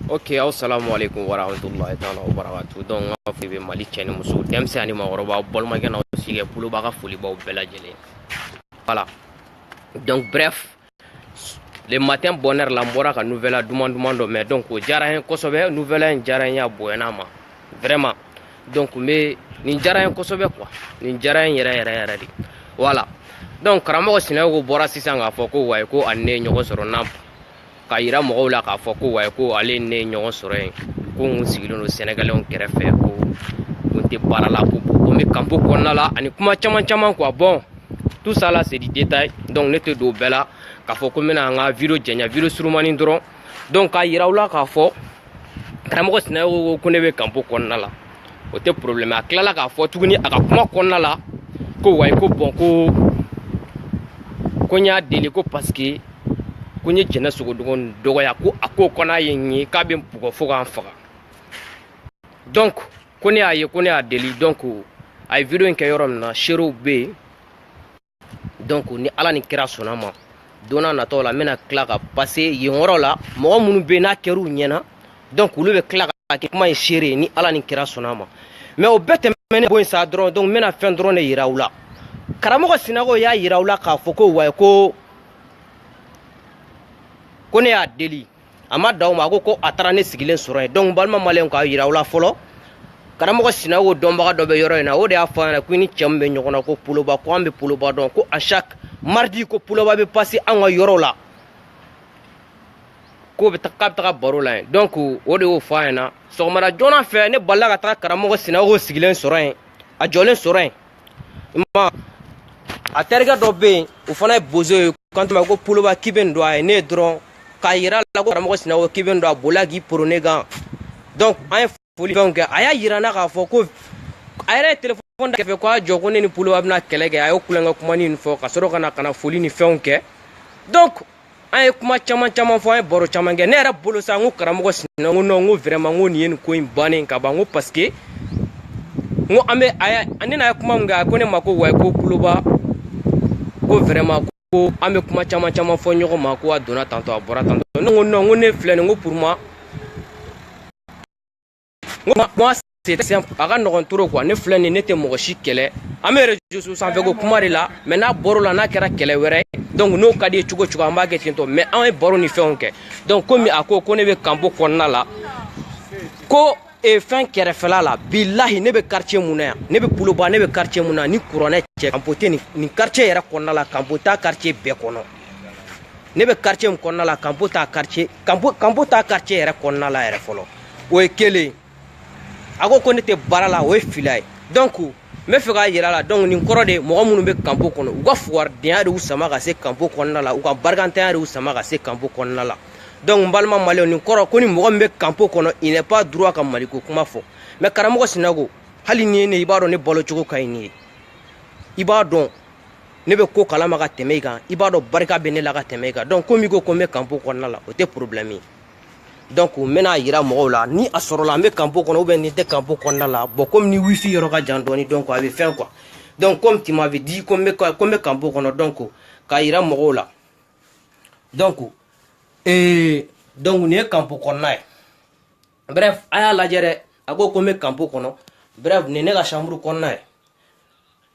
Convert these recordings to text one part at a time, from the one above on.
ok aw salamualeykum warahmatulahi taala wabarakatu donc n ka foli bɛ mali cɛ ni muso denmisɛn ani maakɔrɔba balimakɛ n'aw sigɛ poloba ka folibaw bɛɛ lajɛlen voilà donc bref le matin bonheur la n bɔra ka nouvelle duman duman dɔ mɛn donc o diyara n ye kosɛbɛ nouvelle in diyara n ye a bonyana n ma vraiment donc n bɛ nin diyara n ye kosɛbɛ quoi nin diyara n yɛrɛ yɛrɛ yɛrɛ de voilà donc karamɔgɔ sinayogo bɔra sisan k'a fɔ ko wayi ko a ni ne ye ɲɔgɔn sɔrɔ na k'a yira mɔgɔw la k'a fɔ ko wayi ko ale ni ne ye ɲɔgɔn sɔrɔ yen ko n sigilen don sɛnɛgalɛw kɛrɛfɛ ko ko n tɛ baara la ko ko n bɛ campo kɔnɔna la ani kuma caman caman quoi bon tout ça là c'est du détail donc ne tɛ don o bɛɛ la k'a fɔ ko n bɛna an ka video janya video surumani dɔrɔn donc k'a yira u la k'a fɔ karamɔgɔ sinayogo ko ne bɛ campo kɔnɔna la o tɛ problème a tilala k'a fɔ tuguni a ka kuma kɔnɔna la ko wayi ko bon ko ko n y'a deli ko parce que ko n ye jɛnɛ sogodogo dɔgɔya ko a ko ko n'a ye n ye k'a bɛ n bugɔ fo ka n faga donc ko ne y'a ye ko ne y'a deli donc a ye video in kɛ yɔrɔ min na seerew bɛ yen donc ni ala ni kira sɔnna ma don n'a natɔ la n bɛna tila ka passer yen yɔrɔ la mɔgɔ minnu bɛ yen n'a kɛr'u ɲɛna donc olu bɛ tila ka kɛ kuma ye seere ye ni ala ni kira sɔnna ma mais o bɛɛ tɛmɛnen bɔ yen sa dɔrɔn donc n bɛna fɛn dɔrɔn de yira u la karamɔgɔ sinayogo y'a yira u la k'a fɔ ko wayi ko ko ne y'a deli a ma dan o ma a ko ko a taara ne sigilen sɔrɔ yen donc balima maliyɛnw k'a yira aw la fɔlɔ karamɔgɔ sinayogo dɔnbaga dɔ bɛ yɔrɔ in na o de y'a fɔ a ɲɛna ko i ni cɛ min bɛ ɲɔgɔn na ko poloba ko an bɛ poloba dɔn ko à chaque mardi ko poloba bɛ passer an ka yɔrɔ la k'o bɛ k'a bɛ taga baro la yen donc o de y'o fɔ a ɲɛna sɔgɔmada joona fɛ ne balila ka taga karamɔgɔ sinayogo sigilen sɔrɔ yen a jɔlen sɔrɔ yen ma a terikɛ dɔ bɛ yen o fana ye bozo ye kanto ma ko poloba k'i bɛ nin dɔn a ye ne ye dɔrɔn k'a yira la ko karamɔgɔ sinayogo k'i bɛ nin dɔn a bolila k'i poron ne kan donc an ye foli fɛnw kɛ a y'a yira n na k'a fɔ ko a yɛrɛ ye telefɔni da kɛrɛfɛ ko a jɔ ko ne ni poloba bɛna kɛlɛ kɛ a y'o tulonkɛ kumanin nin fɔ ka sɔrɔ ka na ka na foli ni fɛnw kɛ donc an ye kuma caman caman fɔ an ye baro caman kɛ ne yɛrɛ bolo sa n ko karamɔgɔ sinayogo n ko non n ko vraiment n ko nin ye nin ko in bannen ka ban n ko parce que n ko an bɛ a y'a ne n'a ye kuma min kɛ a ko ne ma ko wa ko poloba ko vraiment ko an bɛ kuma caman caman fɔ ɲɔgɔn ma ko a donna tantɔ a bɔra tantɔ ne ko non n ko ne filɛ nin ko pour moi n ko kuma c'est simple a ka nɔgɔn trop quoi ne filɛ nin ne tɛ mɔgɔ si kɛlɛ an bɛ réseau sanfɛ ko kuma de la mais n'a bɔr'o la n'a kɛra kɛlɛ wɛrɛ ye donc n'o ka d'i ye cogo cogo an b'a kɛ ten tɔ mais an ye baro ni fɛnw kɛ donc komi a ko ko ne bɛ kanpo kɔnɔna la ko e fɛn kɛrɛfɛla la bilahi ne bɛ quartier mun na yan ne bɛ poloba ne bɛ quartier mun na ni kuranɛ cɛ kanpo tɛ nin nin quartier yɛrɛ kɔnɔna la kanpo t'a quartier bɛɛ kɔnɔ ne bɛ quartier min kɔnɔna la kanpo t'a quartier kanpo kanpo t'a quartier yɛrɛ kɔnɔna la yɛrɛ fɔlɔ o ye kelen a ko ko ne tɛ baara la o ye fila ye donc n bɛ fɛ k'a yira la donc nin kɔrɔ de mɔgɔ minnu bɛ kanpo kɔnɔ u ka fugaridenya de y'u sama ka se kanpo kɔnɔna la u ka barikantanya de y'u sama ka se kanpo kɔnɔna la donc n balima maliyɛnw nin kɔrɔ ko ni mɔgɔ min bɛ kanpo kɔnɔ il n'est pas droit ka maliko kuma fɔ mais karamɔgɔ sinayogo hali ni ye ne i b'a dɔn ne balo cogo ka ɲi n'i ye i b'a dɔn ne bɛ ko kalama ka tɛmɛ i kan i b'a dɔn barika bɛ ne la ka tɛmɛ i kan donc komi i ko ko n bɛ kanpo kɔnɔna la o tɛ problème ye donc n bɛna yira mɔgɔw la ni a sɔrɔla n bɛ kanpo kɔnɔ ou bien n tɛ kanpo kɔnɔna la bon komi ni wifi yɔrɔ ka jan dɔɔni donc a bɛ fɛn quoi donc komi tu m'avais dit ko n bɛ ko n bɛ kanpo kɔnɔ donc k'a yira mɔgɔw la donc ee donc nin ye kanpo kɔnɔna ye bref a y'a lajɛ dɛ a ko ko n bɛ kanpo kɔnɔ bref nin ye ne ka chambre kɔnɔna ye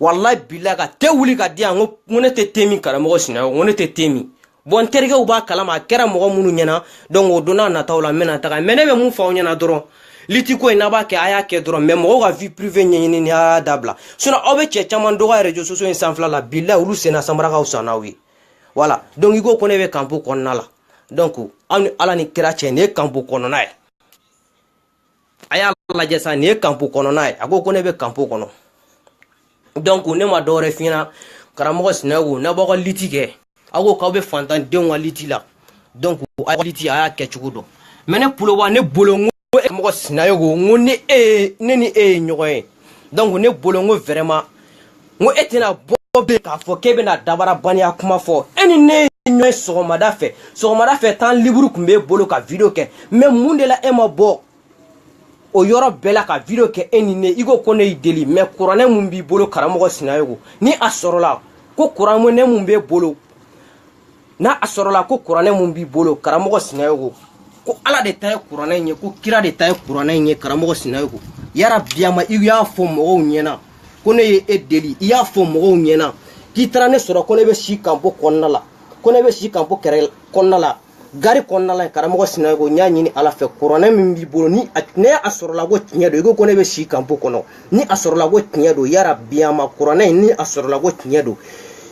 walayi bilahi ka te wuli ka di yan ko ne tɛ te min karamɔgɔ sinayogo ne tɛ te min bon n terikɛw b'a kalama a kɛra mɔgɔ minnu ɲɛna donc o don nataw la n bɛna taga mais ne bɛ mun fɔ aw ɲɛna dɔrɔn liti ko in n'a b'a kɛ a y'a kɛ dɔrɔn mais mɔgɔw ka vie privée ɲɛɲinini a y'a dabila sinon aw bɛ cɛ caman dɔgɔya réseaux sociaux in sanfɛla la bilahi olu senna sanbara ka fisa n'aw ye voilà donc i ko ko ne bɛ kanpo kɔnɔna la donc aw ni ala ni kira cɛ nin ye kanpo kɔnɔna ye a y'a lajɛ sa nin ye kanpo kɔnɔna ye a ko ko ne bɛ kanpo kɔnɔ donc ne ma dɔwɛrɛ f'i ɲɛna karamɔgɔ sinayogo n'a b'aw ka liti kɛ aw ko k'aw bɛ fantandenw ka liti la donc aw ka liti a y'a kɛ cogo dɔn mais ne poloba ne bolo n ko karamɔgɔ sinayogo n ko ni e ne ni e ye ɲɔgɔn ye donc ne bolo n ko vraiment n ko e tɛna bɔ bɛ k'a fɔ k'e bɛna dabarabaniya kuma fɔ e ni ne ye ɲɔgɔn ye sɔgɔmada fɛ sɔgɔmada fɛ temps libre tun b'e bolo ka video kɛ mais mun de la e ma bɔ o yɔrɔ bɛɛ la ka video kɛ e ni ne i ko ko ne y'i deli mais kuranɛ mun b'i bolo karamɔgɔ sinayogo ni a sɔrɔla ko kuranɛ mun b'e bolo n'a sɔrɔla ko kuranɛ mun b'i bolo karamɔgɔ sinayogo ko ala de ta ye kuranɛ in ye ko kira de ta ye kuranɛ in ye karamɔgɔ sinayogo yara biyama i y'a fɔ mɔgɔw ɲɛna ko ne ye e deli i y'a fɔ mɔgɔw ɲɛna k'i taara ne sɔrɔ ko ne bɛ si kanpo kɔnɔna la ko ne bɛ si kanpo kɛrɛ kɔnɔna la gari kɔnɔna la karamɔgɔ sinayogo n y'a ɲini ala fɛ kuranɛ min b'i bolo nin n'a sɔrɔla ko tiɲɛ don i ko ko ne bɛ si kanpo kɔnɔ ni a sɔrɔla ko tiɲɛ don yara biyama kuranɛ in ni a sɔrɔla ko tiɲɛ don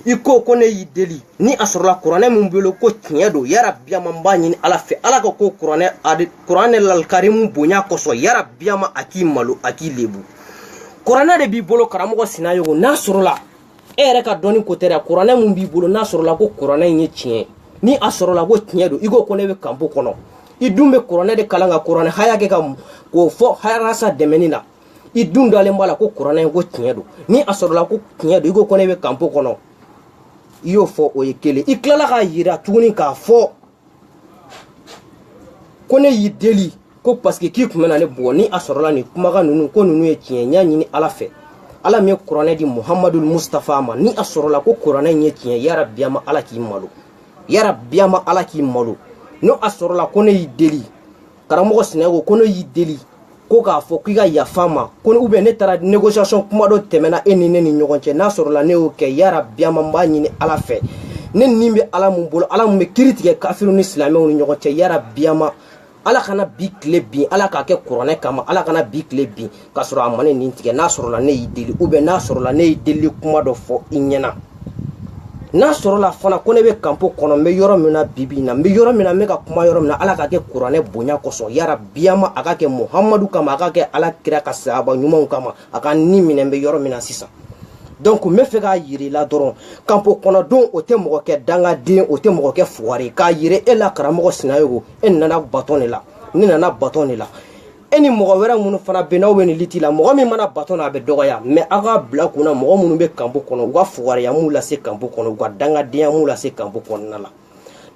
i ko ko ne y'i deli ni a sɔrɔla kuranɛ min bolo ko tiɲɛ don yara biyama n b'a ɲini ala fɛ ala k'a kɛ kuranɛ kuranɛ alikarimu bonya kosɔn yara biyama a k'i malo a k'i lebu kuranɛ de b'i bolo karamɔgɔ sinayogo n'a sɔrɔla e yɛrɛ ka dɔnni ko tɛ dɛ kuranɛ min b'i bolo n'a sɔrɔla ko kuranɛ in ye tiɲɛ ni a sɔrɔla ko tiɲɛ don i ko ko ne bɛ kanpo kɔnɔ i dun bɛ kuranɛ de kalan ka kuranɛ haya kɛ ka k'o fɔ harasa dɛmɛni na i dun dalen b'a la ko kuranɛ ye ko tiɲɛ don ni a sɔrɔla ko tiɲɛ don i ko ko ne bɛ kanpo kɔnɔ i y'o fɔ o ye kelen i tilala k'a yira tuguni k'a fɔ ko ne y'i deli ko paseke k'i tun bɛna ne bugɔ ni a sɔrɔla nin kumakan ninnu ko ninnu ye tiɲɛ n y'a ɲini ala fɛ ala min ye kuranɛ di muhamadu mustafa ma ni a sɔrɔla ko kuranɛ in ye tiɲɛ yara biyama ala k'i malo yara biyama ala k'i malo ni a sɔrɔla ko ne y'i deli karamɔgɔ sinayogo ko ne y'i deli ko k'a fɔ k'i ka yafa n ma ko ou bien ne taara négociation kuma dɔ tɛmɛna e ni ne ni ɲɔgɔn cɛ n'a sɔrɔla ne y'o kɛ yara biyama n b'a ɲini ala fɛ ne ni bɛ ala mun bolo ala mun bɛ kiri tigɛ kafiriw ni silamɛw ni ɲɔgɔn cɛ yara biyama ala kana bi tile bin ala k'a kɛ kuranɛ kama ala kana bi tile bin k'a sɔrɔ a ma ne ni tigɛ n'a sɔrɔla ne y'i deli ou bien n'a sɔrɔla ne ye delili kuma dɔ fɔ i ɲɛna n'a sɔrɔla fana ko ne bɛ kanpo kɔnɔ n bɛ yɔrɔ min na bibi in na n bɛ yɔrɔ min na n bɛ ka kuma yɔrɔ min na ala ka kɛ kuranɛ bonya kosɔn yara biyama a ka kɛ muhamadu kama a ka kɛ ala kira ka sahaba ɲumanw kama a ka ni minɛ n bɛ yɔrɔ min na sisan donc n bɛ fɛ k'a yira i la dɔrɔn kanpo kɔnɔ don o tɛ mɔgɔ kɛ dangaden o tɛ mɔgɔ kɛ fugari k'a yira e la karamɔgɔ sinayogo e nana batɔn de la ne nana batɔn de la e ni mɔgɔ wɛrɛ minnu fana bɛ n'aw bɛ nin lutte la mɔgɔ min ma na batɔn na a bɛ dɔgɔya mais aw k'a bila kun na mɔgɔ minnu bɛ kanpo kɔnɔ u ka fugariya m'u lase kanpo kɔnɔ u ka dangadenya m'u lase kanpo kɔnɔna la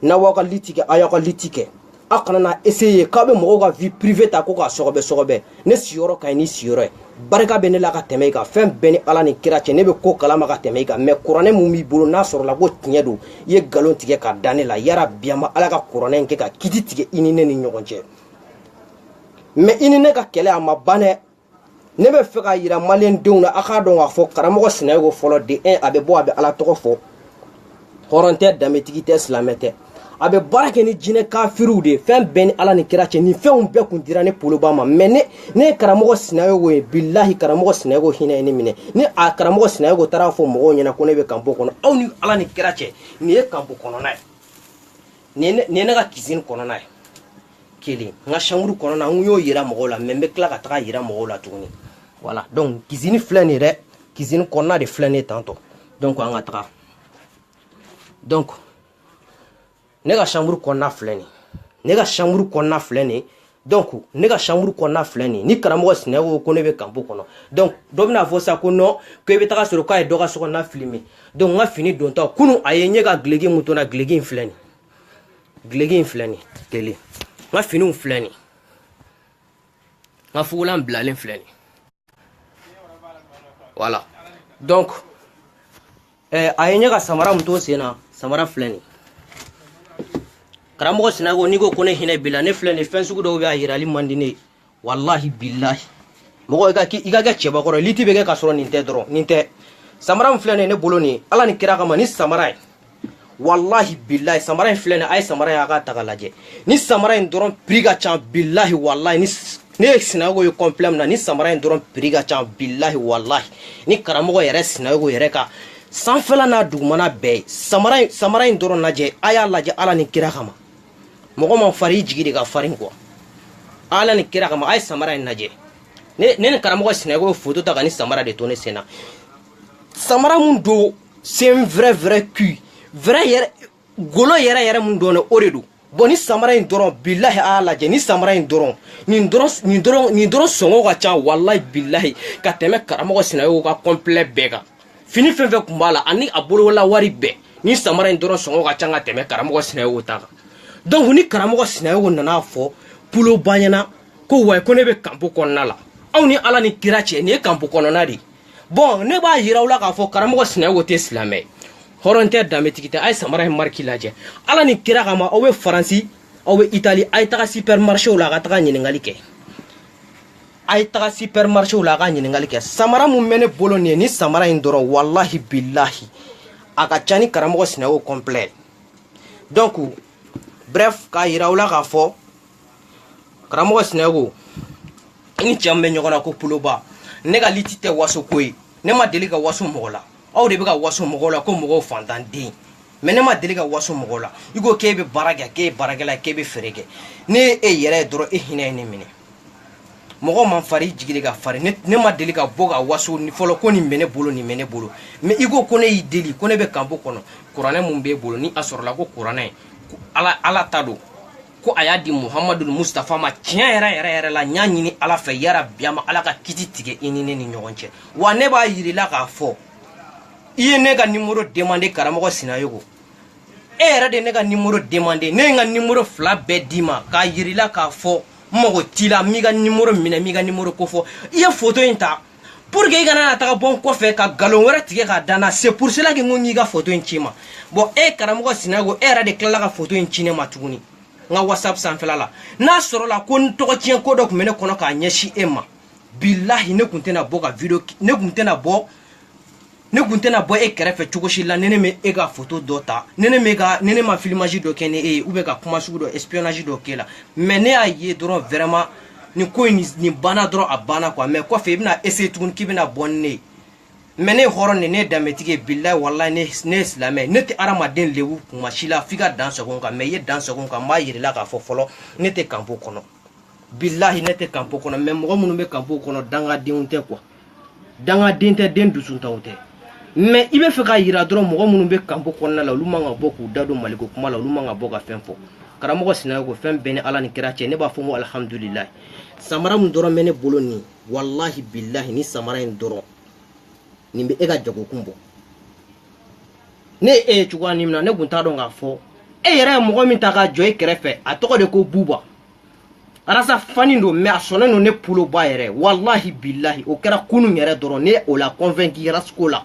n'aw b'aw ka lutte kɛ aw y'aw ka lutte kɛ aw kana na essayer k'aw bɛ mɔgɔw ka vie privée ta ko k'a sɔgɔbɛ sɔgɔbɛ ne siyɔrɔ ka ɲi n'i siyɔrɔ ye barika bɛ ne la ka tɛmɛ i kan fɛn bɛɛ ni ala ni kira cɛ ne bɛ ko kalama ka tɛmɛ i kan mais kuranɛ mun b'i bolo n'a sɔrɔla ko tiɲɛ don i ye nkalon tigɛ ka da ne la yara biyama ala ka kuranɛ in kɛ ka kiti tigɛ i ni ne ni ɲɔgɔn cɛ mais i ni ne ka kɛlɛ a ma ban dɛ ne bɛ fɛ k'a yira maliyɛn denw na a k'a dɔn k'a fɔ karamɔgɔ sinayogo fɔlɔ de un a bɛ bɔ a bɛ ala tɔgɔ fɔ hɔrɔn tɛ danbetigi tɛ silamɛ tɛ a bɛ baara kɛ ni jinɛ kafiriw de ye fɛn bɛɛ ni ala ni kira cɛ nin fɛnw bɛɛ kun dira ne poloba ma mais ne ne ye karamɔgɔ sinayogo ye bilahi karamɔgɔ sinayogo hinɛ ye ne minɛ ni a karamɔgɔ sinayogo taara fɔ mɔgɔw ɲɛna ko ne bɛ kanpo kɔnɔ aw ni ala ni kira cɛ nin ye kanpo kɔnɔna ye nin ye ne ka kizini kɔnɔna ye kelen n ka chambre kɔnɔna n y'o yira mɔgɔw la mais n bɛ tila ka taga yira mɔgɔw la tuguni voilà donc kizini filɛ nin dɛ kizini kɔnɔna de filɛ nin tan donc an ka taga donc ne ka chambre kɔnɔna filɛ nin ne ka chambre kɔnɔna filɛ nin donc ne ka chambre kɔnɔna filɛ nin ni karamɔgɔ sinayogo ko ne bɛ kanpo kɔnɔ donc dɔ bɛna fɔ sa ko non ko i bɛ taga sɔrɔ k'a ye dɔ ka sokɔnɔna filime donc n ka fini donta kunu a ye n ye ka dulɔki mun to n na dulɔki in filɛ nin dulɔki in filɛ nin kelen n ka finiw filɛ nin n ka fugulan bilalen filɛ nin voilà donc eh, a ye n ye ka samara min to sen na samara filɛ nin karamɔgɔ sinayogo n'i ko ko ne hinɛ b'i la ne filɛ nin fɛn sugu dɔw bɛ a yirali man di ne ye walahi bilahi mɔgɔ i ka kɛ i ka kɛ cɛbakɔrɔ ye liti bɛ kɛ ka sɔrɔ nin tɛ dɔrɔn nin tɛ samara min filɛ nin ye ne bolo nin ye ala ni kira kama nin samara ye walahi bilahi samara in filɛ nin a ye samara ye a k'a ta ka lajɛ nin samara in dɔrɔn prix ka ca bilahi walahi ni ne ye sinayogo ye complet min na nin samara in dɔrɔn prix ka ca bilahi walahi ni karamɔgɔ yɛrɛ sinayogo yɛrɛ ka sanfɛla n'a dugumana bɛɛ ye samara in samara in dɔrɔn lajɛ a y'a lajɛ ala ni kira kama mɔgɔ man fari i jigi de ka farin quoi ala ni kira kama a ye samara in lajɛ ne ni karamɔgɔ sinayogo ye foto ta ka nin samara de to ne sen na samara mun don c'est un vrai vrai cuir vrai yɛrɛ golo yɛrɛ yɛrɛ mun don ne o de don bon nin samara in dɔrɔn bilahi a lajɛ nin samara in dɔrɔn nin dɔrɔn nin dɔrɔn nin dɔrɔn sɔngɔ ka ca walahi bilahi ka tɛmɛ karamɔgɔ sinayogo ka complet bɛɛ kan fini fɛn fɛn kun b'a la ani a bolola wari bɛɛ nin samara in dɔrɔn sɔngɔ ka ca ka tɛmɛ karamɔgɔ sinayogo ta kan donc ni karamɔgɔ sinayogo nana fɔ pulo banyana ko wayi ko ne bɛ kanpo kɔnɔna la aw ni ala ni kira cɛ nin ye kanpo kɔnɔna de ye bon ne b'a yira aw la k'a fɔ karamɔgɔ sinayogo tɛ silamɛ ye hɔrɔn tɛ danbetigi tɛ a ye samara in mariki lajɛ ala ni kira kama aw bɛ faransi aw bɛ itali a ye taga supermarché la a ka taga ɲininkali kɛ a ye taga supermarché la a ka ɲininkali kɛ samara mun bɛ ne bolo nin ye nin samara in dɔrɔn walahi bilahi a ka ca ni karamɔgɔ sinayogo complet donc bref k'a yira aw la k'a fɔ karamɔgɔ sinayogo i ni cɛ min bɛ ɲɔgɔn na ko puloba ne ka liti tɛ waso ko ye ne ma deli ka waso mɔgɔ la aw de bɛ ka waso mɔgɔw la ko mɔgɔw fantanden mais ne ma deli ka waso mɔgɔw la i ko k'e bɛ baara kɛ k'e ye baarakɛla k'e bɛ feere kɛ ne ye e yɛrɛ ye dɔrɔn e hinɛ ye ne minɛ mɔgɔ man fari i jigi de ka fari ne ma deli ka bɔ ka waso fɔlɔ ko nin bɛ ne bolo nin bɛ ne bolo mais i ko ko ne y'i deli ko ne bɛ kanpo kɔnɔ kuranɛ mun b'e bolo ni a sɔrɔla ko kuranɛ ala ala ta don ko a y'a di muhamadu mustafa ma tiɲɛ yɛrɛ yɛrɛ yɛrɛ la n y'a ɲini ala fɛ yarabi a ma ala ka kiti tigɛ i ni ne ni ɲɔgɔn cɛ wa ne b'a yir'i la k'a fɔ i ye ne ka nimoro demandé karamɔgɔ sinayogo e yɛrɛ de ne ka nimoro demandé ne ye n ka nimoro fila bɛɛ d'i ma k'a yir'i la k'a fɔ n mago t'i la n m'i ka nimoro minɛ n m'i ka nimoro kofɔ i ye foto in ta pour que i kana na taga bɔ n kɔfɛ ka nkalon wɛrɛ tigɛ k'a da n na c'est pour cela que n ko n y'i ka foto in ci n ma bon e karamɔgɔ sinago e yɛrɛ de tilala ka foto in ci ne ma tuguni n ka whatsapp sanfɛla la n'a sɔrɔla ko n tɔgɔ tiɲɛ ko dɔ tun bɛ ne kɔnɔ k'a ɲɛsin e ma bilahi ne kun tɛna bɔ ka video ne kun tɛna bɔ ne kun tɛna bɔ e kɛrɛfɛ cogo si la ni ne ma e ka foto dɔ ta ni ne bɛ ka ni ne ma filmage dɔ kɛ ni e ye ou bien ka kuma sugu dɔ espionnage dɔ k'e la mais ne y'a ye dɔrɔn vraiment nin ko in nin banna dɔrɔn a banna quoi mais kɔfɛ i bɛna essayer tuguni k'i bɛna bɔ ni ne ye mais ne ye hɔrɔn de ne ye danbetigi ye bilahi walahi ne ne ye silamɛ ne tɛ hadamaden lebu kuma si la f'i ka dan sago n kan mais i ye dan sago n kan n b'a yir'i la k'a fɔ fɔlɔ ne tɛ kanpo kɔnɔ bilahi ne tɛ kanpo kɔnɔ mais mɔgɔ minnu bɛ kanpo kɔnɔ dangadenw tɛ quoi dangaden tɛ den dusuntaw tɛ mais i bɛ fɛ k'a yira dɔrɔn mɔgɔ minnu bɛ kanpo kɔnɔna la olu man ka bɔ k'u da don maliko kuma la olu man ka bɔ ka fɛn fɔ karamɔgɔ sinayo ko fɛn bɛɛ ni ala ni kira cɛ ne b'a fɔ n ko alihamudulilayi samara min dɔrɔn bɛ ne bolo nin walahi bilahi ni samara in dɔrɔn nin bɛ e ka jagokun bɔ ne ye e ye cogoya min na ne kun t'a dɔn k'a fɔ e yɛrɛ ye mɔgɔ min ta k'a jɔ e kɛrɛfɛ a tɔgɔ de ko buba a ras fan don mais a sɔnnen don ne bolo bɔ a yɛrɛ walahi bilahi o kɛra kunun yɛrɛ dɔrɔn ne y'o la convaincu ras ko la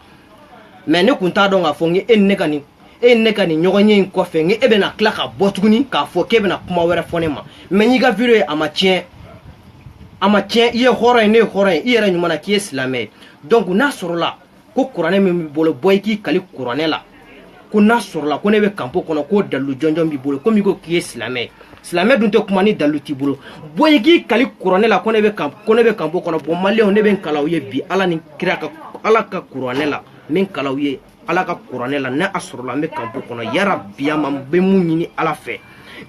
mais ne kun t'a dɔn k'a fɔ k'e ni ne ka nin e ni ne ka nin ɲɔgɔnye in kɔfɛ k'e bɛna tila ka bɔ tuguni k'a fɔ k'e bɛna kuma wɛrɛ fɔ ne ma mais n y'i ka video ye a ma tiɲɛ a ma tiɲɛ i ye hɔrɔn ye ne ye hɔrɔn ye i yɛrɛ ɲuman na k'i ye silamɛ ye donc n'a sɔrɔla ko kuranɛ min b'i bolo bɔ i k'i kali kuranɛ la ko n'a sɔrɔla ko ne bɛ kanpo kɔnɔ k'o dalilu jɔnjɔn b'i bolo komi i ko k'i ye silamɛ ye silamɛ dun tɛ kuma ni dalilu t'i bolo bɔ i k'i kali kuranɛ la ko ne bɛ kan ko ne bɛ kanpo kɔnɔ bon maliyɛnw ne bɛ n kal'aw ye bi ala ni kira ka ala ka kuranɛ la n bɛ n kal'aw ye ala ka kuranɛ la ni a sɔrɔla n bɛ kanpo kɔnɔ yarabi ama n bɛ mun ɲini ala fɛ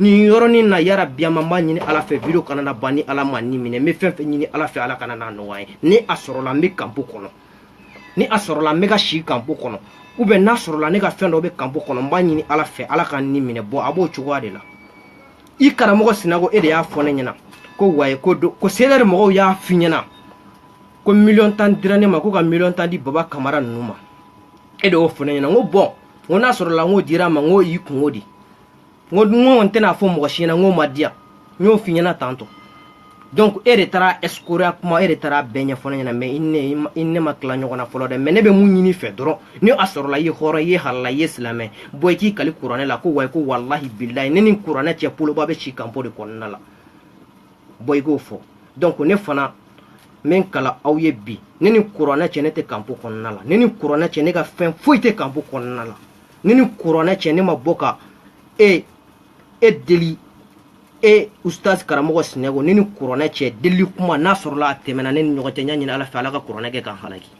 nin yɔrɔnin na yarabi ama n b'a ɲini ala fɛ video kana na ban ni ala ma n ni minɛ n bɛ fɛn fɛn ɲini ala fɛ ala kana n'a nɔgɔya n ye ni a sɔrɔla n bɛ kanpo kɔnɔ ni a sɔrɔla n bɛ ka si kanpo kɔnɔ ou bien n'a sɔrɔla ne ka fɛn dɔ bɛ kanpo kɔnɔ n b'a ɲini ala fɛ ala ka n ni minɛ bon a b'o cogoya de la i karamɔgɔ sinago e de y'a fɔ ne ɲɛna ko ouais ko do ko cdr mɔgɔw y'a f'i ɲɛna ko miliyɔn tan dira ne ma ko ka miliyɔn tan di baba kamara ninnu ma e de y'o fɔ ne ɲɛna n ko bon n ko n'a sɔrɔla n k'o dira n ma n k'o y'i kunko di n ko n tɛna fɔ mɔgɔ si ɲɛna n ko ma diya n y'o f'i ɲɛna tantɔ donc e de taara escroquerie kuma e de taara bɛɛ ɲɛfɔ ne ɲɛna mais i ni ne ma tila ɲɔgɔn na fɔlɔ dɛ mais ne bɛ mun ɲin'i fɛ dɔrɔn ni a sɔrɔla i ye hɔrɔn i ye halala i ye silamɛ bɔ i k'i kali kuranɛ la ko wayi ko walahi bilahi ne ni kuranɛ cɛ poloba bɛ si kanpo de kɔnɔna la bɔ i k'o fɔ donc ne fana n bɛ n kali aw ye bi ne ni kuranɛ cɛ ne tɛ kanpo kɔnɔna la ne ni kuranɛ cɛ ne ka fɛn foyi tɛ kanpo kɔnɔna la ne ni kuranɛ cɛ ne ma bɔ ka e e deli e ustaz karamɔgɔ sinayogo ne ni kuranɛ cɛ deli kuma n'a sɔrɔla a tɛmɛna ne n'i ɲɔgɔn cɛ n y'a ɲini ala fɛ ala ka kuranɛ kɛ k'an halaki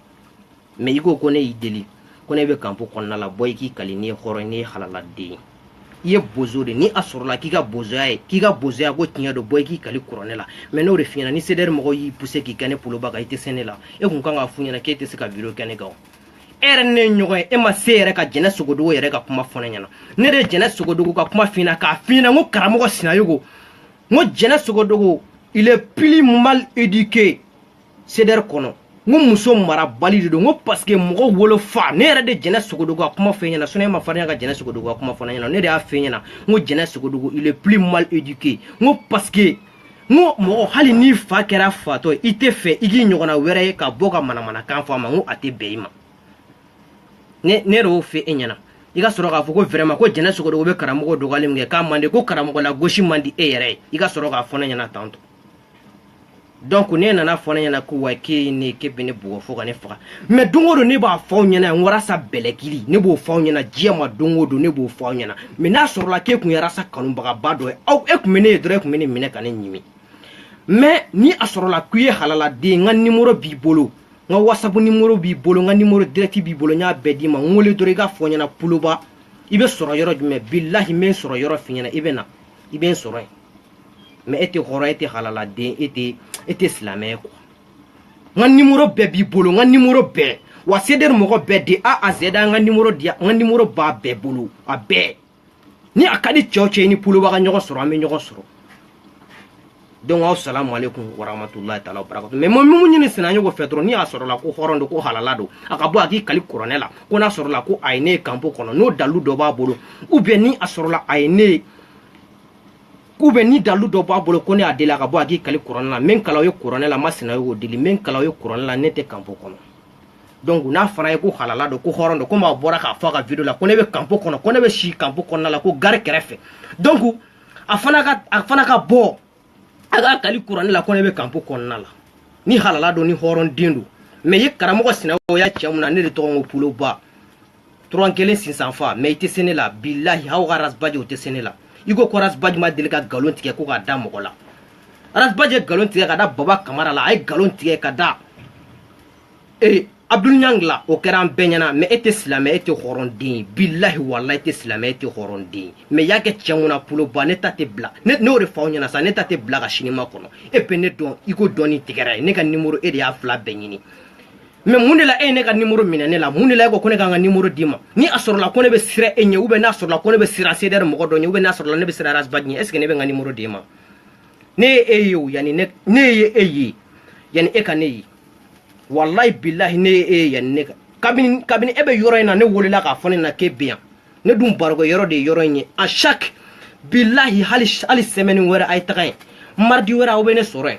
mais i ko ko ne y'i deli ko ne bɛ kanpo kɔnɔna la bɔ i k'i kali n'i ye hɔrɔn n'i ye halaladen ye i ye bozo de ni a sɔrɔla k'i ka bozoya ye k'i ka bozoya ko tiɲɛ don bɔ i k'i kali kuranɛ la mais n'o de f'i ɲɛna ni cdr mɔgɔw y'i pousser k'i kɛ ne poloba kan i tɛ se ne la e kun kan k'a f'u ɲɛna k'e tɛ se ka video kɛ ne kan e yɛrɛ ne ye ɲɔgɔn ye e ma se yɛrɛ ka jɛnɛ sogodogo yɛrɛ ka kuma fɔ ne ɲɛna ne de ye jɛnɛ sogodogo ka kuma f'i ɲɛna k'a f'i ɲɛna ko karamɔgɔ sinayogo n ko jɛnɛ sogodogo il est plus mal éduqué cdr kɔnɔ n ko muso marabali de don n ko parce que mɔgɔ wolo fa ne yɛrɛ de jɛnɛ sogodogo ka kuma f'e ɲɛna sinon e ma farinya ka jɛnɛ sogodogo ka kuma fɔ ne ɲɛna ne de y'a f'e ɲɛna n ko jɛnɛ sogodogo il est plus mal éduqué n ko parce que n ko mɔgɔ hali n'i fa kɛra fatɔ ye i t'a fɛ i k'i ɲɔgɔnna wɛrɛ ye ka bɔ ka manamanakan fɔ a ma n ko a tɛ bɛn i ma ne ne yɛrɛ y'o fɔ e ɲɛna i ka sɔrɔ k'a fɔ ko vraiment ko jɛnɛ sogodogo bɛ karamɔgɔ dɔgɔyali min kɛ k'a man di ko karamɔgɔ lagosi man di e yɛrɛ ye i ka sɔrɔ k'a fɔ ne ɲɛna tan tɔ donc n'e nana fɔ ne ɲɛna quoi k'e ye ne ye k'e bɛ ne bugɔ fo ka ne faga mais don o don ne b'a fɔ aw ɲɛna yan warasa bɛlɛkili ne b'o fɔ aw ɲɛna diɲɛ ma don o don ne b'o fɔ aw ɲɛna mais n'a sɔrɔla k'e kun ye rasa kanubagaba dɔ ye aw e kun bɛ ne ye dɔrɔn e kun bɛ ne minɛ ka ne ɲimi mais ni a sɔrɔla k'i ye halaladen n ka nimoro b'i bolo n ka wasapu nimoro b'i bolo n ka nimoro direct b'i bolo n y'a bɛɛ d'i ma n wele dɔrɔn i k'a fɔ n ɲɛna poloba i bɛ sɔrɔ yɔrɔ jumɛn bilahi n bɛ n sɔrɔ yɔrɔ f'i ɲɛna i bɛ na i bɛ n sɔrɔ yen mais e tɛ hɔrɔn e tɛ halaladen e tɛ e tɛ silamɛ ye quoi n ka nimoro bɛɛ b'i bolo n ka nimoro bɛɛ wa cdr mɔgɔ bɛɛ de a à z n ka nimoro di n ka nimoro b'a bɛɛ bolo a bɛɛ ni a ka di cɛ o cɛ i ni poloba ka ɲɔgɔn sɔrɔ an bɛ ɲɔgɔn sɔrɔ donc asalamu aleykum warahmatulahi taala wabarakatu mais n bɛ mun ɲini sinayogo fɛ dɔrɔn ni a sɔrɔla ko hɔrɔn don ko halala don a ka bɔ a k'i kali kuranɛ la ko n'a sɔrɔla ko a ye ne ye kanpo kɔnɔ n'o dalu dɔ b'a bolo ou bien ni a sɔrɔla a ye ne ye ou bien ni dalu dɔ b'a bolo ko ne y'a deli a ka bɔ a k'i kali kuranɛ la n bɛ n kali aw ye kuranɛ la n ma sinayogo deli n bɛ n kali aw ye kuranɛ la ne tɛ kanpo kɔnɔ donc n'a fana ye ko halala don ko hɔrɔn don komi a bɔra k'a fɔ a ka video la ko ne bɛ kanpo kɔnɔ ko ne bɛ si kanpo kɔnɔna la ko gari kɛrɛfɛ donc a fana ka a fana ka bɔ a k'i kali kuranɛ la ko ne bɛ kanpo kɔnɔna la ni halala don ni hɔrɔn den don mais e karamɔgɔ sinayogo a cɛ mun na ne de tɔgɔ ko poloba turan kelen sinsan fa mɛ i tɛ se ne la bilahi aw ka ras bath o tɛ se ne la i ko ras bath ma deli ka nkalon tigɛ ko k'a da mɔgɔ la ras bath ye nkalon tigɛ ka da baba kamara la a ye nkalon tigɛ ka da ee abdul niang la o kɛra an bɛɛ ɲɛna mɛ e tɛ silamɛ e tɛ hɔrɔnden ye bilahi walayi e tɛ silamɛ e tɛ hɔrɔnden ye mɛ y'a kɛ cɛ mun na poloba ne ta tɛ bila ne y'o de fɔ aw ɲɛna sa ne ta tɛ bila ka sini makɔnɔ e bɛ ne dɔn i ko dɔɔni tigɛra ye ne ka nimoro e de y'a fila bɛɛ ɲini mɛ mun de la e ye ne ka nimoro minɛ ne la mun de la e ko ko ne ka n ka nimoro d'i ma ni a sɔrɔla ko ne bɛ siran e ɲɛ ubiyɛn n'a sɔrɔla ko ne bɛ siran sedɛri mɔgɔ dɔ ɲɛ ubiyɛn n'a sɔrɔla ne bɛ siran ras bath ɲɛ est ce que ne bɛ n ka nimoro d'i ma ne ye e ye o yanni ne ne ye e ye yanni e ka ne ye walayi bilahi ne ye e ye yanni ne ka kabini kabini e bɛ yɔrɔ in na ne welela k'a fɔ ne ɲɛna k'e bɛ yan ne dun barokɛyɔrɔ de ye yɔrɔ in ye a chaque bilahi hali hali sɛmɛni wɛrɛ a ye taga yen maridi wɛrɛ aw bɛ ne sɔrɔ yen